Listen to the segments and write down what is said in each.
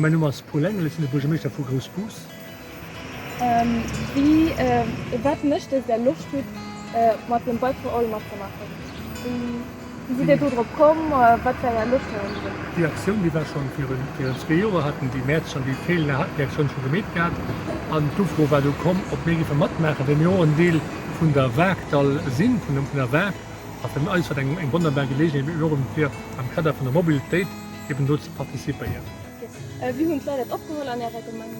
Mäin Numm ass Paul Engel, ech sinn de Buergermeeschter vu Groussbus. Wat mécht Iech, där Loscht hutt mat dem Bike for All matzemaachen? Wéi sidd Dir do drop komm? Wat war Är Loscht heiansdo drop? Déi Aktioun, déi war schonn virun virun zwee Joer, hat den Guy Maertsch an den Guy Thelen, haten déi Aktioun scho gemeet gehat. An d'Ufro war du komm, ob mir géife matmaachen, well mir och en Deel vun der Waark Dall sinn, vun dem vun der Waark. A fir eis war dat eng eng wonnerbar Geleegenheet eben och fir am Kader vun der Mobilitéit eben do ze participéieren. Wéi hunn d'Leit dat opgeholl an Ärer Gemeng?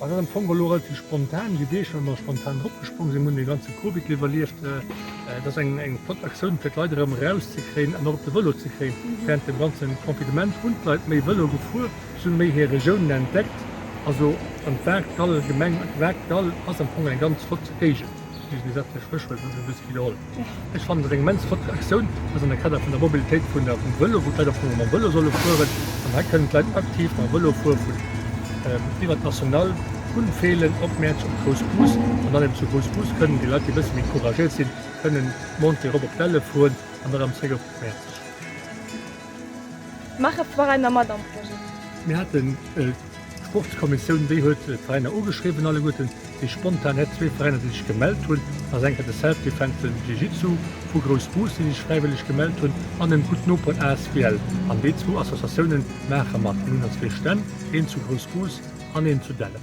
An dat am Fong elo relativ spontan, déi Deeg wou mer spontan drop gesprong sinn, hunn dee ganze Covid iwwerlieft. Et ass eng flott Aktioun fir d'Leit erëm eraus ze kréien an och op de Vëlo ze kréien. Wärend dem ganze Confinement hunn d'Leit méi Vëlo gefuer, si hunn méi hir Regiounen entdeckt. Also an d'Waagdall, d'Gemeng Waagdall ass am Fong eng ganz flott Géigend, déi se bis ewech wëll, wëll se e bësse widderholl. Ech fannen dat eng immens flott Aktioun. Ass an der Kader vun der Mobilitéit vun der vum Vëlo, wou d'Leit och mam Vëlo solle fueren. An hei kënnen d'Leit aktiv mam Vëlo fuere vun iwwert d'National, vun Feelen op Mäerz op Groussbus. An dann eben zu Groussbus kënnen déi Leit, déi e bësse méi couragéiert sinn, kënnen Montée erop op d'Delle fueren an dann erëm zréck op Mäerzeg. Maache Forainer mat am Projet? Mir haten Sportskommissioun, déi huet d'Veräiner ugeschriwwen alleguerten, déi spontan hett zwee Veräiner déi sech gemellt hunn, ass enker de Self Defense Film Jiu Jitsu vu Groussbus déi sech fräiwëlleg gemellt hunn an dem Gutt Noperen asbl an déi zwou Associatiounen maache mat. Mir hunn der zwee Stänn, een zu Groussbus an een zu Dellen.